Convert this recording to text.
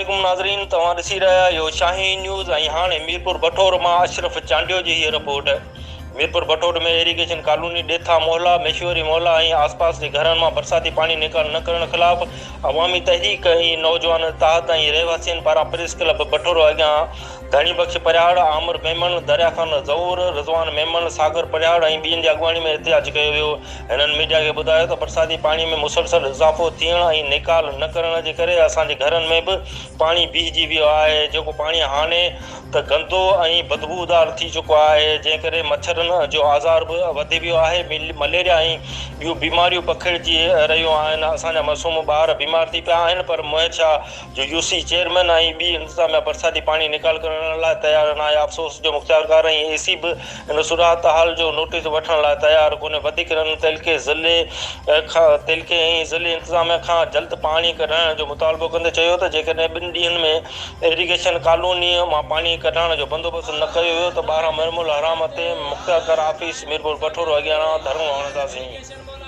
عليڪم ناظرين توهان ڏسي رهيا آهيو شاهين نيوز ۽ هاڻي ميرپور بٺور مان اشرف چانڊيو جي هيء report Mirpur Bathoro ۾ irrigation colony ڏيٿا محلا ميشوري محلا ۽ آسپاس جي گهرن مان برساتي پاڻي نيڪال نه ڪرڻ خلاف عوامي تحريڪ ۽ نوجوان اتحاد ۽ رهواسين پاران پريس ڪلب بٺور اڳيان ڌڻي بخش پرهياڙ، عامر ميمڻ، دريا خان زئور، رضوان ميمڻ، ساگر پرهياڙ ۽ ٻين جي اڳواڻي ۾ احتجاج ڪيو ويو. هنن ميڊيا کي ٻڌايو ته برساتي پاڻي ۾ مسلسل اضافو ٿيڻ ۽ نيڪال نه ڪرڻ جي ڪري اسان جي گهرن ۾ به پاڻي بيهجي ويو آهي، جيڪو پاڻي هاڻي ته گندو ۽ بدبودار ٿي چڪو آهي، جنهن ڪري مڇرن جو آزار به وڌي ويو آهي، مليريا ۽ ٻيون بيماريون پکڙجي رهيون آهن، اسان جا معصوم ٻار بيمار ٿي پيا آهن پر مهر شاهه جو يو سي چيئرمين ۽ ٻي انتظاميا برساتي پاڻي نيڪال ڪرڻ لاء تيار ناهي، افسوس جو مختيارڪار ۽ اي سي به ان صورتحال جو نوٽيس وٺڻ لاء تيار ڪونهي، وڌيڪ رن تعلقي ضلعي کان تعلقي ۽ ضلعي انتظاميا کان جلد پاڻي ڪڍرائڻ جو مطالبو ڪندي چيو ته جيڪڏهن ٻن ڏينهن ۾ ايريگيشن ڪالوني مان پاڻي ڪڍرائڻ جو بندوبست نه ڪيو ويو ته ٻاهران ميرملحرام تي مختيارڪار آفيس ميرپوربٺورو اڳيان ڌرڻو هڻنداسين.